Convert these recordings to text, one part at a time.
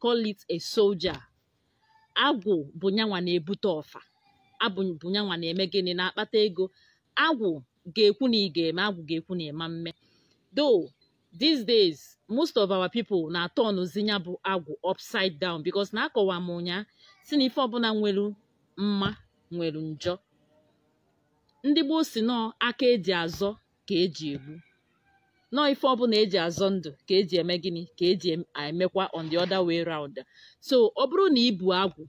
call it a soldier agwụ bụ nyanwa na-ebute ọfa agwụ bụ nyanwa na-eme gịnị na-akpata ego agwụ ga-ekwu na ị ga-eme agwụ ga-ekwu na ị ma-eme though these days most of our people na-atọnụzi nya bụ agwụ upside down because na akọwa m ụnyaa sị na ife ọbụla nwere mma nwere njọ ndị gboo sị na ọ aka eji azọ ka eji egbu na ọ ife ọbụla eji azọ ndụ ka eji eme gịnị ka eji emekwa on the other way round so ọ bụrụ na ibu agwụ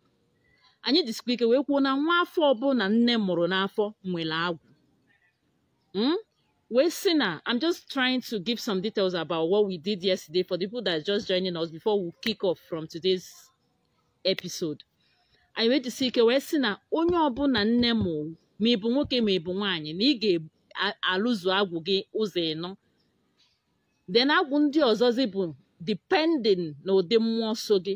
anyị jisikwa ike wee kwuo na nwa afọ ọbụla nne mụrụ n'afọ nwere agwụ hmm? wee sị na I'm just trying to give some details about what we did yesterday for the people that are just joining us before we kick off from today's episode anyị wee jisi ike wee sị na onye ọbụla nne mụ ma ịbụ nwoke ma ịbụ nwaanyị na ị ga-alụzu agwụ gị ụzọ ịnọ then agwụ ndị ọzọzi bụ depending na ụdị mmụọ so gị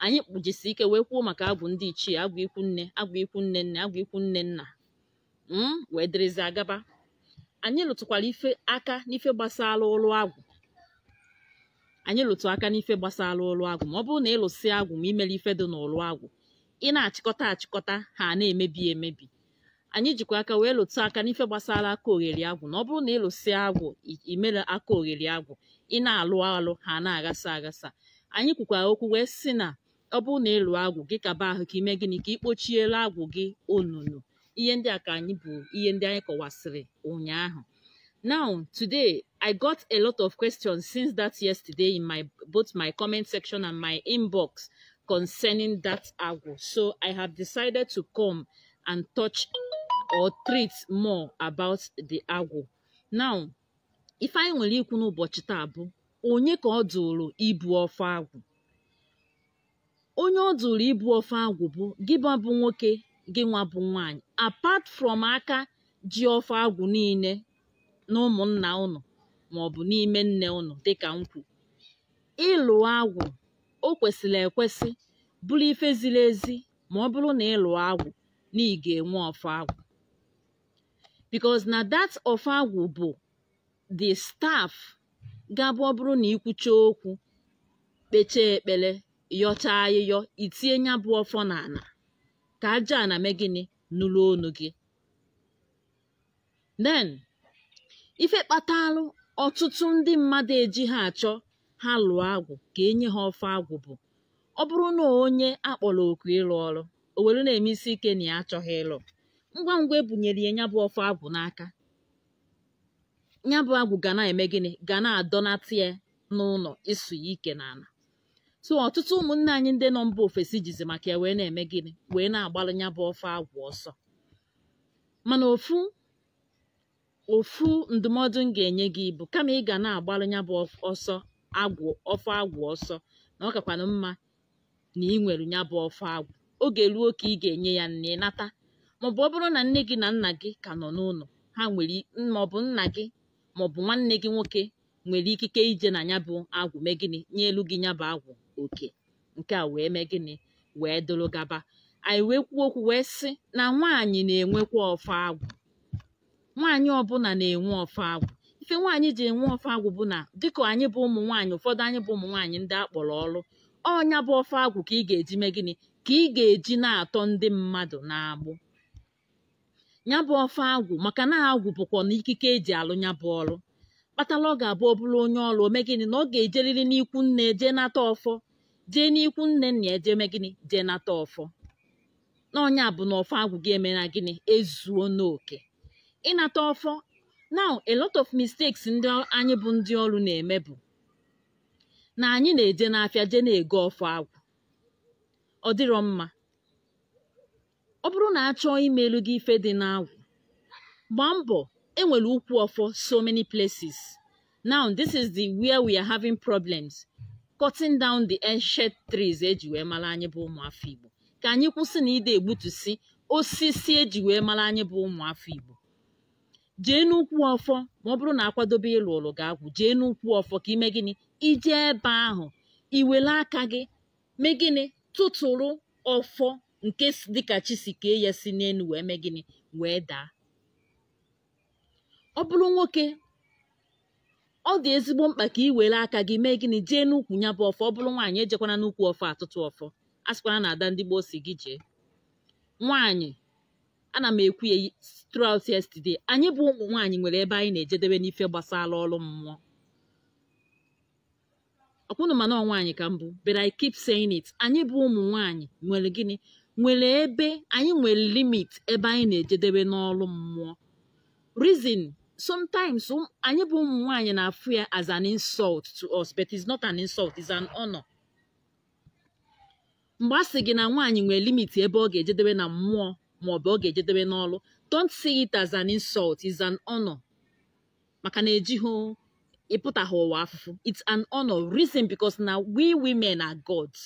anyị kpụjisi ike wee kwuo maka agwụ ndị ichie agwụ ikwu nne agwụ ikwu nne nne agwụ ikwu nne nna mm, wee dịrịzi agaba anyị lụtụkwara ife aka n'ife gbasara ụlụ agwụ anyị lụtụ aka n'ife gbasara ụlụ agwụ ma ọ bụrụ na ịlụsị agwụ ma imero ife dị n'ụlụ agwụ ị na-achịkọta achịkọta ha na-emebi emebi anyị jikwa aka wee lụtụ aka n'ife gbasara aka ogheri agwụ na ọ bụrụ na ịlụsị agwụ imero aka ogheri agwụ ị na-alụ alụ ha na-aghasa aghasa anyị kwukwara okwu wee sị na ọ bụrụ na ịlụ agwụ gị kaba ahụ ka ime gịnị ka ị kpochiere agwụ gị onunu ihe ndị a ka anyị bụ ihe ndị anyị kọwasịrị ụnyaahụ now today i got a lot of questions since that yesterday in my both my comment section and my inbox concerning that agwụ so i have decided to come and touch or treat more about the agwụ now ife anyị nwere ikwu n'ụbọchị taa bụ onye ka ọ dụrụ ibu ọfọ agwụ onye ọ dụrụ ibu ọfọ agwụ bụ gị nwa bụ nwoke gị nwa bụ nwaanyị apart from aka ji ọfọ agwụ niile na ụmụnna ụnụ maọbụ n'ime nne ụnụ dịka m kwu ịlụ agwụ o kwesịrị ekwesị bụrụ ife ziri ezi ma ọ bụrụ na ịlụ agwụ na ị ga-enwe ọfọ agwụ because na that ọfọ agwụ bụ the staff ga-abụ ọ bụrụ na ikwucha okwu kpecha ekpere yọcha ayịyọ i tie nya bụ ọfọ n'ana ka aja ana mee gịnị nụrụ onu gị then ife kpatalụ ọtụtụ ndị mmadụ eji ha achọ ha lụọ agwụ ka enye ha ọfọ agwụ bụ ọ bụrụ na onye akpọrọ oku ịlụ ọrụ o were na-eme isi ike na ya achọghị ịlụ ngwa ngwa ebunyere ya nyabụ ọfọ agwụ n'aka nyabụ agwụ ga na-eme gịnị ga na-adọnata ya n'ụnọ ịsụ ya ike n'ana so ọtụtụ ụmụnne anyị ndị nọ mba ofesi jizi maka ya wee na-eme gịnị wee na-agbalụ nyabụ ọfọ agwụ ọsọ mana ofu ofu ndụmọdụ m ga-enye gị bụ kama ị ga na-agbalụ nyabụ ọsọ agwụ ọfọ agwụ ọsọ na ọ kakwanụ mma na ị nwere nyabụ ọfọ agwụ oge ruo ka ị ga-enye ya na ị nata maọbụ ọ bụrụ na nne gị na nna gị ka nọ n'ụnọ ha nwere maọbụ nna gị maọbụ nwanne gị nwoke nwere ikike ije na nyabụ agwụ mee gịnị nyelu gị nyabụ agwụ oke nke a wee mee gịnị wee dụrụ gaba anyị wee kwuo okwu wee sị na nwaanyị na-enwekwa ọfọ agwụ nwaanyị ọbụna na-enwe ọfọ agwụ ife nwaanyị ji enwe ọfọ agwụ bụ na dịka anyị bụ ụmụ nwaanyị ụfọdụ anyị bụ ụmụ nwaanyị ndị a kpọrọ ọrụ ọ nyabụ ọfọ agwụ ka ị ga-eji mee gịnị ka ị ga-eji na-atọ ndị mmadụ n'agbụ nyabụ ọfọ agwụ maka na agwụ bụkwanụ ikike eji alụ ya bụ ọrụ kpatara ọ ga-abụ ọ bụrụ onye ọrụ o mee gịnị na ọ ga-ejerịrị n'ikwu nne jee nata ọfọ jee n'ikwu nne nna ya jee mee gịnị jee nata ọfọ na ọ nyabụ na ọfọ agwụ gị emena gịnị ezuona oke ịnata ọfọ now a lot of mistakes ndị anyị bụ ndị ọrụ na-eme bụ na anyị na-eje n'afịa jee na-ego ọfọ agwụ ọ dịrọ mma ọ bụrụ na a chọọ imelu gị ife dị n'agwụ gbaa mbọ enwere ukwu ọfọ so many places now this is the where we are having problems cutting down the ancient trees eji wee mara anyị bụ ụmụafọ Igbo ka anyị kwụsị na ịdị egbutusi osisi eji wee mara anyị bụ ụmụafọ Igbo jee n'ukwu ọfọ ma ọ bụrụ na akwadobe ịlụlụ gị agwụ jee n'ukwu ọfọ ka i mee gịnị i jee ebe ahụ i were aka gị mee gịnị tụtụrụ ọfọ nke dịka chi si kee ya si n'enu wee mee gịnị wee daa ọ bụrụ nwoke ọ dị ezigbo mkpa ka ị were aka gị mee gịnị jee n'ukwu nyabụ ọfọ ọ bụrụ nwaanyị ejekwana n'ukwu ọfọ atụtụ ọfọ asịkwana na ada ndị gboo sị gị jee nwaanyị ana m ekwu ya throughout yesterday anyị bụ ụmụ nwaanyị nwere ebe anyị na-ejedebe n'ife gbasara ọrụ mmụọ ọkwa unu ma na ọ nwaanyị ka m bụ but I keep saying it anyị bụ ụmụ nwaanyị nwere gịnị nwere ebe anyị nwere limit ebe anyị na-ejedebe n'ọrụ mmụọ reason sometimes um, anyị bụ ụmụ nwaanyị na-afụ ya as an insult to us but it's not an insult it's an honor mgbe a sị gị na nwaanyị nwere limit ebe ọ ga-ejedebe na mmụọ maọbụ ọ ga-ejedebe n'ọrụ don't see it as an insult it's an honor maka na ejighị ịpụtaghị ụwa afụfụ it's an honor reason because na we women are gods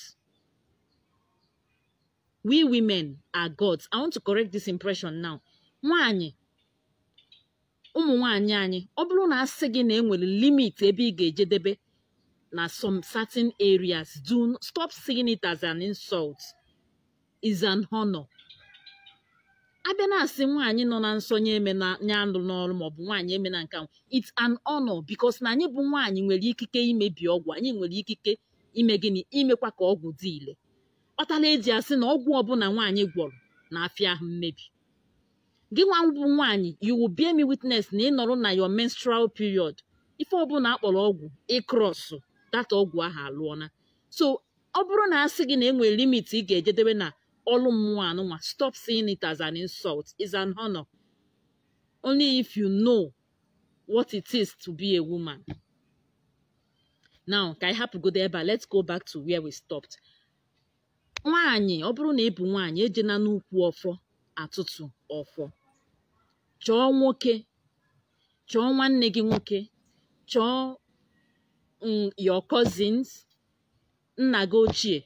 we women are gods i want to correct this impression now nwanyị ụmụ nwanyị anyị ọ bụrụ na asị gị na enwere limit ebe ị ga-ejedebe na some certain areas do stop seeing it as an insult is an honor abịa na-asị nwaanyị nọ na nsọ nya emena nye anụ n'ọrụ maọbụ nwaanyị emena nka it's an honor because na anyị bụ nwaanyị nwere ikike imebi ọgwụ anyị nwere ikike ime gịnị imekwa ka ọgwụ dị ile kpatara eji asị na ọgwụ ọbụla nwaanyị gwọrọ na-afịa ahụ mmebi gị nwa bụ nwaanyị you will bear me witness na ịnọrọ na your menstrual period ife ọbụla akpọrọ ọgwụ ị cross that ọgwụ ahụ alụọna so ọ bụrụ na a sị gị na e nwere limit ị ga-ejedebe na ọlụ mmụọ anụnwa stop seeing it as an insult is an honor only if you know what it is to be a woman now ka anyị hapụgodo ebe a let's go back to where we stopped nwaanyị ọ bụrụ na ị bụ nwaanyị ejena n'ukwu ọfọ atụtụ ọfọ chọọ nwoke chọọ nwanne gị nwoke chọọ mm, your cousins nna gị ochie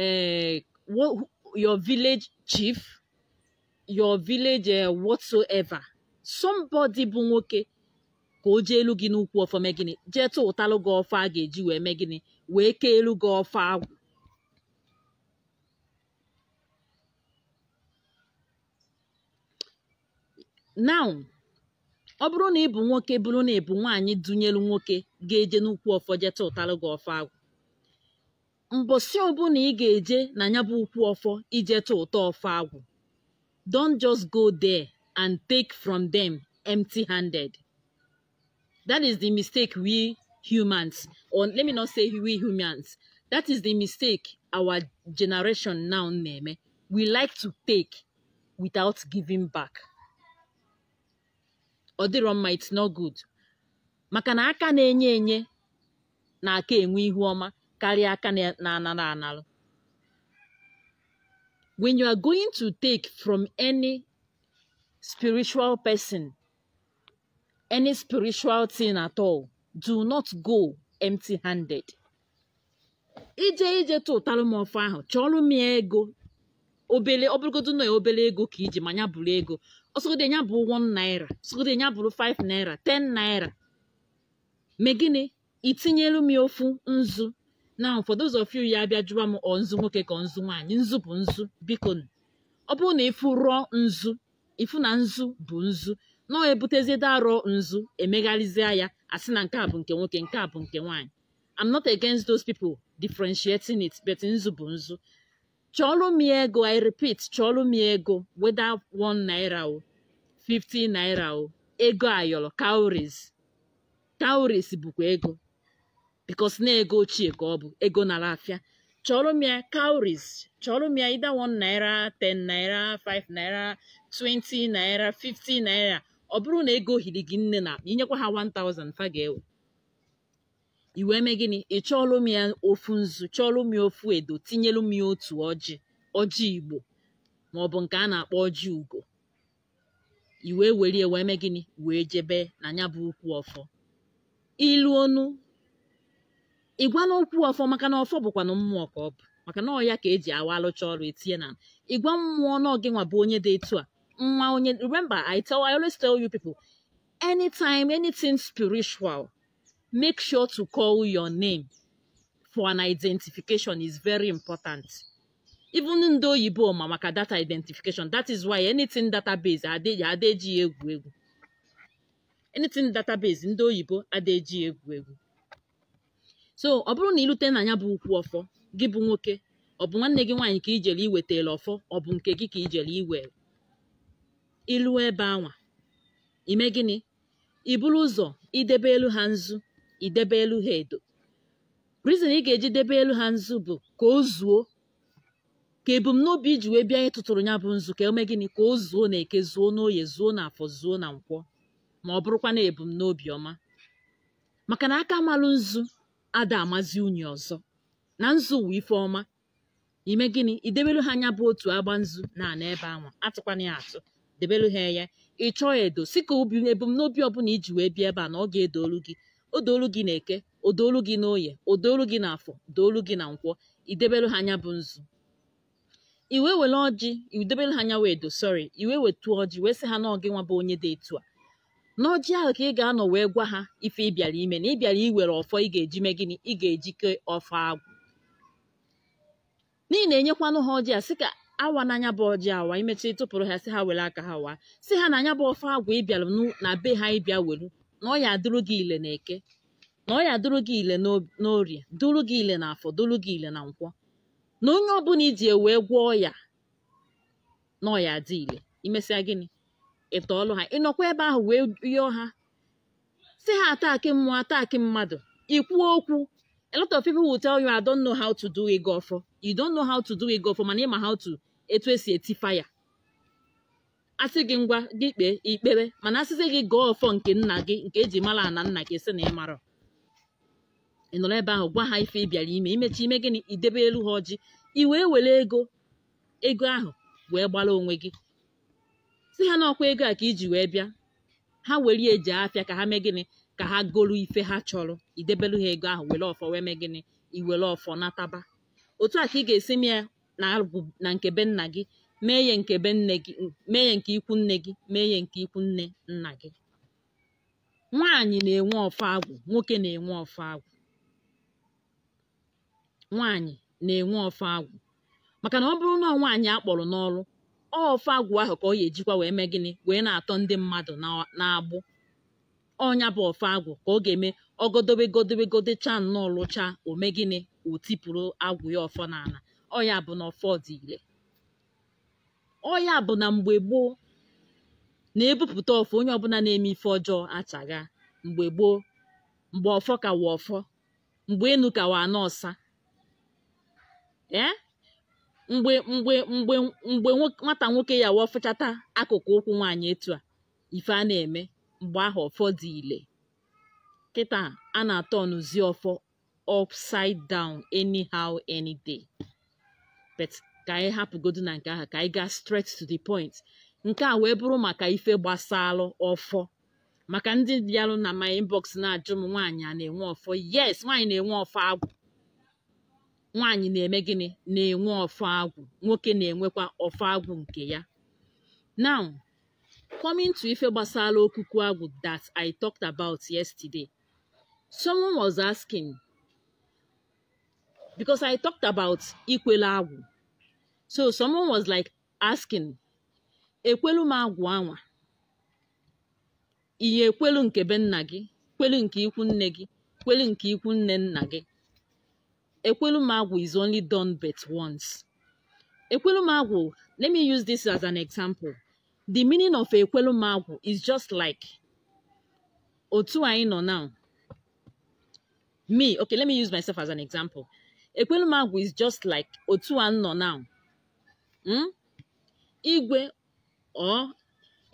eh, your village chief your village eh, whatsoever somebody bụ nwoke ka o jeelu gị n'ukwu ọfọ mee gịnị jee tụtalụ gị ọfọ a ga-eji wee mee gịnị wee keelu gị ọfọ agwụ now ọ bụrụ na ị bụ nwoke bụrụ na ị bụ nwaanyị dunyelu nwoke ga-eje n'ukwu ọfọ je tụtalụ gị ọfọ agwụ mbọsị ọbụla ị ga-eje na ya bụ ukwu ọfọ ije tụta ọfọ agwụ don't just go there and take from them empty handed That is the mistake we humans, or let me not say we humans, that is the mistake our generation now na-eme. We like to take without giving back. Ọ dịrọ mma it's not good. Maka na aka na-enye enye na-aka enwe ihu ọma karịa aka na-anara analụ. When you are going to take from any spiritual person, any spiritual thing at all do not go empty handed ije ije tụtalụ m ọfọ ahụ chọọlụ m ya ego obele ọbụrụgodo na obele ego ka i ji ma ya bụrụ ego ọsọgode ya bụrụ 1 naira ọsọgode ya bụrụ 5 naira 10 naira mee gịnị itinyelu m ofu nzu now for those of you ya abịa jụwa m ọ nzu nwoke ka ọ nzu nwaanyị nzu bụ nzu biko ọ bụrụ na ịfụ raw nzu ịfụ na nzu bụ nzu na ebutezie the raw nzu emegharịzie ya asị na nke a bụ nke nwoke nke a bụ nke nwaanyị I'm not against those people differentiating it but nzu bụ nzu chọọlụ m ego I repeat chọọlụ m ego whether one naira o 50 naira o ego ayọrọ cowries cowries bụkwa ego because na ego ochie ka ọ bụ ego nara afịa chọrọ m ya cowries chọrọ m ya either one naira 10 naira 5 naira 20 naira 50 naira ọ bụrụ na ego hiri gị nne n'akpa inyekwa ha 1000 fa ga-ewe i wee mee gịnị ị chọọlụ m ya ofu nzu chọọlụ m ya ofu edo tinyelu m ya otu ọjị ọjị igbo maọbụ nke a na-akpọ ọjị ugo i wee were ya wee mee gịnị wee jebe na nya bụ ukwu ọfọ iluonu ịgwa na ukwu ọfọ maka na ọfọ bụkwanụ mmụọ ka ọ bụ maka na ọ ya ka eji awa alụcha ọrụ etinye na ịgwa mmụọ na ọ gịnwa bụ onye dị etu a nwa onye remember I tell I always tell you people anytime anything spiritual make sure to call your name for an identification is very important even ndị oyibo ma maka data identification that is why anything database ada eji ya egwu egwu anything database ndị oyibo ada eji ya egwu egwu so ọ bụrụ na ilute na nya bụ ukwu ọfọ gị bụ nwoke ọ bụ nwanne gị nwaanyị ka ijele iwetara ọfọ ọ bụ nke gị ka ijele iwere iluo ebe anwa ime gịnị iburu ụzọ idebelu ha nzu idebelu ha edo reason ị ga-eji debelu ha nzu bụ ka o zuo ka ebumnobi iji wee bịa ịtụtụrụ nya bụ nzu ka o mee gịnị ka o zuo na eke zuo n'oye zuo na afọ zuo na nkwọ ma ọ bụrụkwa na ebumnobi ọma maka na aka malụ nzu ada amazi unyi ọzọ na nzu wụ ife ọma ime gịnị idebelu ha nya bụ otu agba nzu na ana ebe anwa atụkwana ya atụ debelu ha ya ịchọọ edo sị ka obi ebumnobi ọbụla iji wee bịa ebe a na ọ ga-edoolu gị o doolu gị na eke o doolu gị na oye o doolu gị na afọ doolu gị na nkwọ idebelu ha nya bụ nzu i wee were ọjị idebelu ha nya bụ edo sorry i wee wetu ọjị wee sị ha na ọ gịnwa bụ onye dị etu a n'ọjị ahụ ka ị ga-anọ wee gwa ha ife ị bịara ime na ị bịara iwere ọfọ ị ga-eji mee gịnị ị ga-eji ke ọfọ agwụ n'ihi na enyekwanụ ha ọjị a sị ka awana nya bụ ọjị awa imechi tụpụrụ ha sị ha were aka ha waa sị ha na nya bụ ọfọ agwụ ị bịara nụ na be ha ịbịa welu na ọ ya adụrụ gị ile na eke na ọ ya adụrụ gị ile n'o- n'orie dụrụ gị ile na afọ dụrụ gị ile na nkwọ na onye ọbụla iji ya wee gwọọ ya na ọ ya adị ile imesịa gịnị ị tọọlụ ha ị nọkwa ebe ahụ wee yọọ ha sị ha ataki mmụọ ataki mmadụ ikwu okwu a lot of people will tell you I don't know how to do ịgọ ọfọ you don't know how to do ịgọ ọfọ mana ị ma how to etu e si eti fire a sị gị ngwa gị kpee ekpere mana a sịzi gị gọọ ọfọ nke nna gị nke e ji mara ana nna gị sị na ị mara ị nọrọ ebe ahụ gwa ha ife ị bịara ime i mechaa i mee gịnị i debeelu ha ọjị i wee were ego ego ahụ wee gbara onwe gị sị ha na ọ kwa ego a ka i ji wee bịa ha were ya eje afịa ka ha mee gịnị ka ha golu ife ha chọrọ i debelu ha ego ahụ were ọfọ wee mee gịnị i were ọfọ nataba otu a ka ị ga-esi mee ya na agwụ na nke be nna gị mee ya nke be nne gị mee ya nke ikwu nne gị mee ya nke ikwu nne nna gị nwaanyị na-enwe ọfọ agwụ nwoke na-enwe ọfọ agwụ nwaanyị na-enwe ọfọ agwụ maka na ọ bụrụ na nwaanyị a kpọrọ n'ọrụ ọfọ agwụ ahụ ka ọ ya ejikwa wee mee gịnị wee na-atọ ndị mmadụ na- n'agbụ ọ nya bụ ọfọ agwụ ka ọ ga-eme ọgodobe godobe godecha nnọọ lụchaa o mee gịnị o tipụrụ agwụ ya ọfọ n'ala ọ ya bụ na ọfọ dị ile ọ ya bụ na mgbe gboo na e bupụta ọfọ onye ọbụla na-eme ife ọjọọ achagha mgbe gboo mgbe ọfọ ka wụ ọfọ mgbe enu ka wụ ana ọsa ee mgbe mgbe mgbe mgbe nwata nwoke ya wafụchata akụkụ ụkwụ nwaanyị etu a ife a na-eme mgbe ahụ ọfọ dị ile kịta a na-aturnzi ọfọ upside down anyhow any day but ka anyị hapụgodu na nke ahụ ka anyị gaa straight to the point nke a wee bụrụ maka ife gbasalụ ọfọ maka ndị bịarụ na my inbox na-ajụ m nwaanyị a na-enwe ọfọ yes nwaanyị na-enwe ọfọ agwụ nwaanyị na-eme gịnị na-enwe ọfọ agwụ nwoke na-enwekwa ọfọ agwụ nke ya now coming to ife gbasara okuku agwụ that I talked about yesterday someone was asking because I talked about ikwelu agwụ so someone was like asking ekwelu m agwụ anwa ị ya-ekwelu nke be nna gị kwelu nke ikwu nne gị kwelu nke ikwu nne nna gị Ekwelu m agwụ is only done but once. Ekwelu m agwụ, let me use this as an example. The meaning of ekwelu m agwụ is just like otu anyị nọ now. Me, okay, let me use myself as an example. Ekwelu m agwụ is just like otu a nọ now. Hmm? Igwe or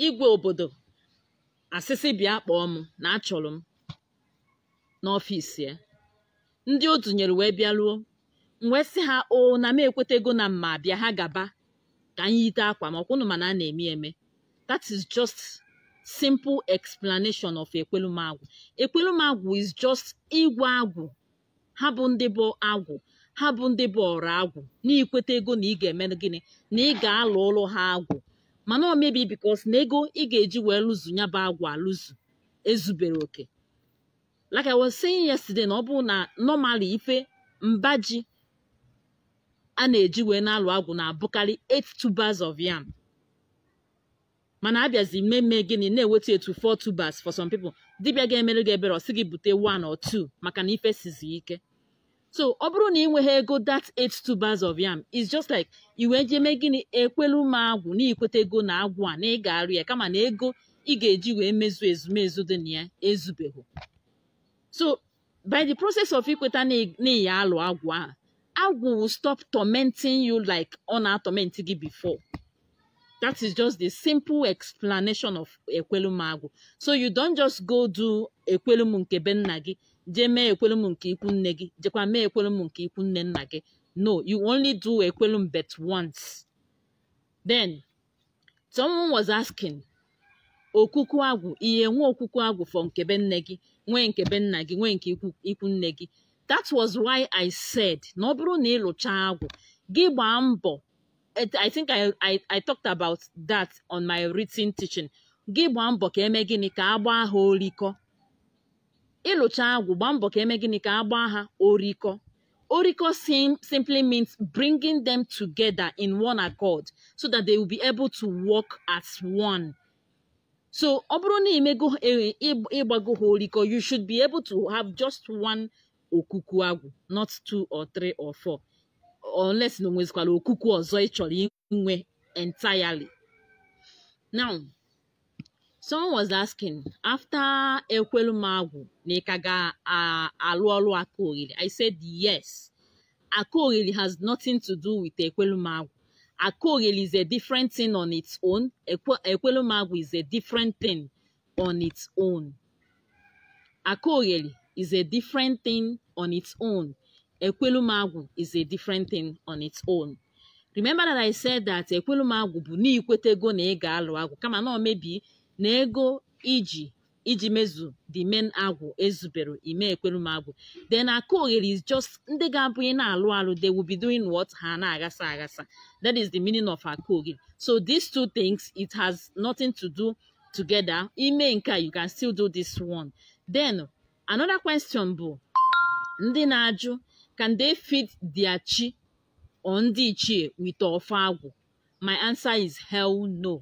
igwe obodo asị sị bịa kpọọ m na a chọrọ m n'ọfịs ya ndị o dunyere wee bịaruo m wee sị ha o na m ekwetago na m ma-abịa ha gaba ka m yite akwa ma ọkwa unu ma na a na-eme eme that is just simple explanation of ekwelum agwụ ekwelum agwụ is just ịgwa agwụ ha bụ ndị bụ agwụ ha bụ ndị bụ ọrụ agwụ na i kwetago na ị ga-eme gịnị na ị ga-alụlụ ha agwụ mana ọ maybe because na ego ị ga-eji wee lụzu ya bụ agwụ alụzu ezuberọ oke like I was saying yesterday na ọ bụ na normally ife mba ji a na-eji wee na-alụ agwụ na-abụkarị eight tubers of yam mana a bịazi meme gịnị na-ewetu ya to four tubers for some people dibịa ga-emere gị ebere ọ sị gị bute one or two maka na ife sizi ike so ọ bụrụ na ị nweghị ego that eight tubers of yam is just like i wee jee mee gịnị ekwelu m agwụ na i kwetago na agwụ a na ị ga-arụ ya kama na ego ị ga-eji wee mezu ezumezu dị na ya ezubeghị so by the process of ikweta na ị ya-alụ agwụ ahụ agwụ will stop tormenting you like ọ na-atorment gị before that is just the simple explanation of ekwelum agwụ so you don't just go do ekwelum nke be nna gị jee mee ekwelum nke ikwu nne gị jekwa mee ekwelum nke ikwu nne nna gị no you only do ekwelum but once then someone was asking okuku agwụ ị ya-enwe okuku agwụ for nke be nne gị nwee nke be nna gị nwee nke ikwu nne gị that was why i said na ọ bụrụ na ị lụcha agwụ gị gbaa mbọ i think I, I, I talked about that on my written teaching gị gbaa mbọ ka e mee gịnị ka a gbaa ha orikọ ị lụcha agwụ gbaa mbọ ka e mee gịnị ka a gbaa ha orikọ orikọ sim simply means bringing them together in one accord so that they will be able to work as one so ọ bụrụ na i mego e- ị gb- ị gbago ha orikọ you should be able to have just one okuku agwụ not two or three or four unless na o nwezikwara okuku ọzọ ị chọrọ inwe entirely now someone was asking after ekwelu m agwụ na ị ka ga-arụ ọrụ akogheli i said yes akogheli has nothing to do with ekwelu m agwụ akogheli is a different thing on its own ekwelu m agwụ is a different thing on its own Akogheli is a different thing on its own. Ekwelum agwụ is a different thing on its own. Remember that I said that Ekwelum agwụ bụ na i kwetago na ị ga-alụ agwụ kama na ọ maybe na ego i ji eji mezu the main agwụ ezuberọ i mee Ekwelum agwụ. Then Akogheli is just ndị ga-abụ ị na-alụ alụ they will be doing what ha na-aghasa aghasa. That is the meaning of Akogheli. So these two things it has nothing to do together ime nke a you can still do this one then another question bụ ndị na-ajụ can they feed their chi or ndị ichie with ọfọ agwụ my answer is hell no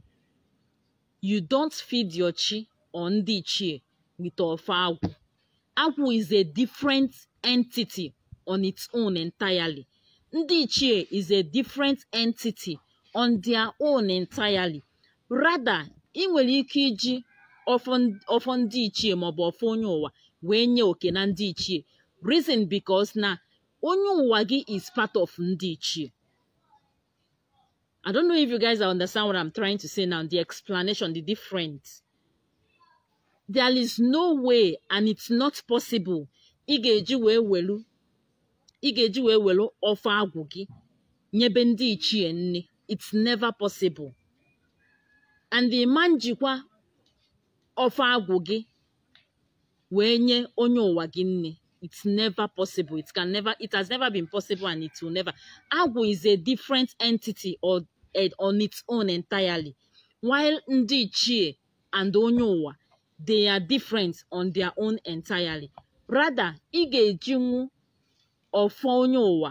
you don't feed your chi or ndị ichie with ọfọ agwụ Agwụ is a different entity on its own entirely. Ndị ichie is a different entity on their own entirely. Rather, ị nwere ike iji ọfọ ndị ichie maọbụ ọfọ onye ụwa wee nye oke na ndị ichie. Reason because na onye ụwa gị is part of ndị ichie. I don't know if you guys understand what I'm trying to say now, the explanation, the difference. There is no way and it's not possible ị ga-eji wee welu ị ga-eji wee welu ọfọ agwụ gị nyebe ndị ichie nni it's never possible and ị ma ejikwa ọfọ agwụ gị wee nye onye ụwa gị nni it's never possible it can never it has never been possible and it will never agwụ is a different entity or eh, on its own entirely while ndị ichie and onye ụwa they are different on their own entirely rather ị ga-ejinwu ọfọ onye ụwa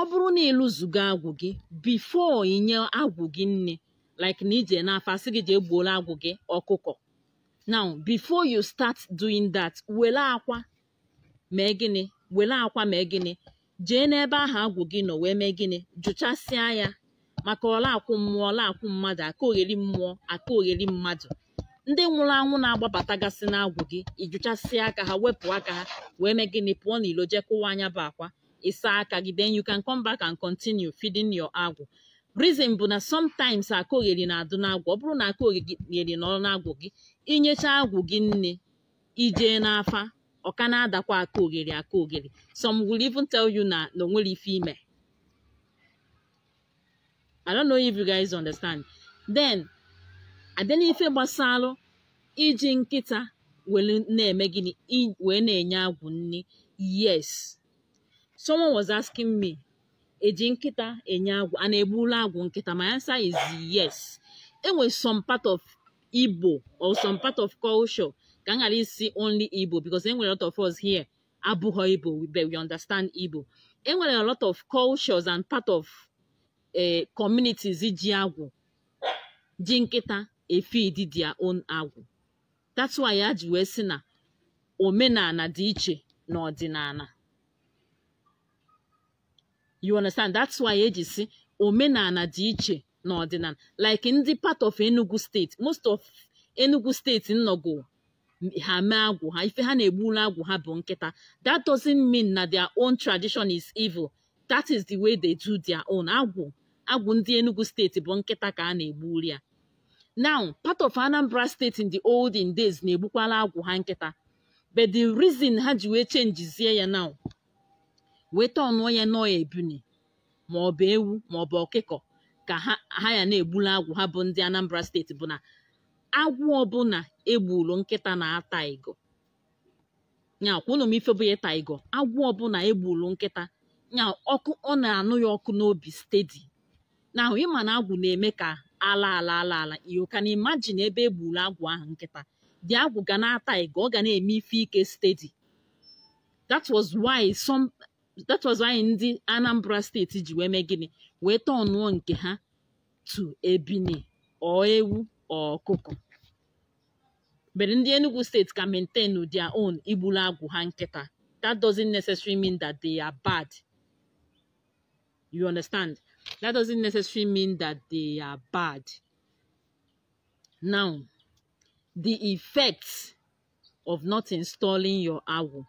ọ bụrụ na ịlụzugo agwụ gị before inye agwụ gị nni like na ije n'afa asị gị jee gbuolu agwụ gị ọkụkọ now before you start doing that were akwa mee gịnị were akwa mee gịnị jee n'ebe ahụ agwụ gị nọ wee mee gịnị jụchasịa ya maka ọla akwụ mmụọ ọla akwụ mmadụ aka ogheri mmụọ aka ogheri mmadụ ndị nwụrụ anwụ na-agbabatagasị n'agwụ gị ijụchasịa aka ha wepụ aka ha wee mee gịnị pụọ n'ilo jee kụwaa nya bụ akwa ịsa aka gị then you can come back and continue feeding your agwụ reason bụ na sometimes aka ogheri na-adụ n'agwụ ọ bụrụ na aka ogheri nọ n'agwụ gị inyecha agwụ gị nni ijee n'afa ọ ka na-adakwa aka ogheri aka ogheri some will even tell you na na onwere ife ime I don't know if you guys understand then abịa n'ife gbasalụ iji nkịta were na-eme gịnị wee na-enye agwụ nri yes someone was asking me eji nkịta enye agwụ a na-egbulu agwụ nkịta my answer is yes enwere some part of Igbo or some part of culture ka m ghara ịsị only Igbo because enwere lot of us here abụghọ Igbo but we understand Igbo enwere a lot of cultures and part of eh, communities ji agwụ ji nkịta efid their own agwụ that's why eji wee sị na omenala dị iche na ọdịnala you understand that's why eji si omenala dị iche na ọdịnala like ndị part of Enugu steeti most of Enugu steeti ịnụgo ha mee agwụ ha ife ha na-egburu agwụ ha bụ nkịta that doesn't mean na their own tradition is evil that is the way they do their own agwụ agwụ ndị Enugu steeti bụ nkịta ka a na-egburu ya now part of Anambra steeti in the olden days na-egbukwala agwụ ha nkịta but the reason ha ji wee chenjizie ya now wee tọnụọ ya na ọ ebuni ma ọ bụ ewu ma ọ bụ ọkụkọ ka ha ya na-egbula agwụ ha bụ ndị Anambra steeti bụ na agwụ ọbụla egburu nkịta na-ata igo ọ kwa unu ma ife bụ ịta igo agwụ ọbụla egburu nkịta nya ọkụ ọ na-anụ ya ọkụ n'obi steady na ahụ ịma na agwụ na-eme ka ala ala ala ala you can imagine ebe egburu agwụ ahụ nkịta the agwụ ga na-ata igo ọ ga na-eme ife ike steady that was why some that was why ndị Anambra steeti ji wee mee gịnị wee tọnụọ nke ha to ebini or ewu or ọkụkọ but ndị Enugu steeti ka maintain their own igburu agwụ ha nkịta that doesn't necessarily mean that they are bad you understand that doesn't necessarily mean that they are bad now the effects of not installing your agwụ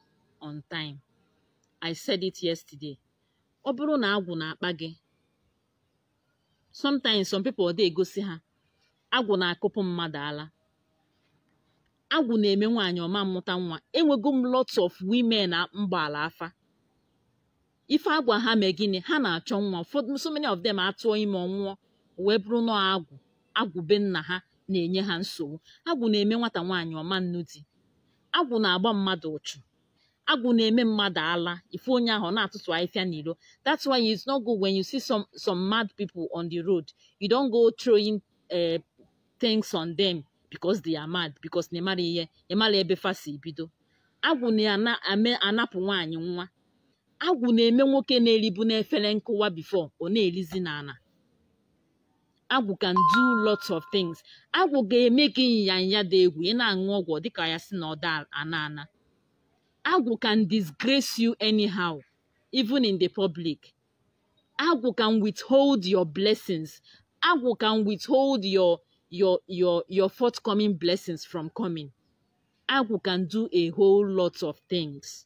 on time I said it yesterday ọ bụrụ na agwụ na-akpa gị sometimes some people ọ dị egosi ha agwụ na-akụpụ mmadụ ala agwụ na-eme nwaanyị ọ ma mụta nwa enwego m lots of women m gbaala afa ife agwa ha mee gịnị ha na-achọ nwa ụfọdụ so many of them atụọ ime ọ nwụọ wee bụrụ na agwụ agwụ be nna ha na-enye ha nsogbu agwụ na-eme nwata nwaanyị ọ ma nụ di agwụ na-agba mmadụ ụchụ agwụ na-eme mmadụ ala ịfụ onye ahụ na-atụtụ ahịfịa n'ilo that's why it's not good when you see some some mad people on the road you don't go throwing uh, things on them because they are mad because na ịmara ihe ịmara ebe fa si bido agwụ na-anapụ nwaanyị nwa agwụ na-eme nwoke na-eribu n'efere nkụwa before ọ na-erizi n'ala agwụ can do lots of things agwụ ga-eme gị nyanya dị egwu ị na-aṅụ ọgwụ dịka ya sị na ọ da-ana ana agwụ can disgrace you anyhow even in the public agwụ can withhold your blessings agwụ can withhold your your your your forthcoming blessings from coming agwụ can do a whole lot of things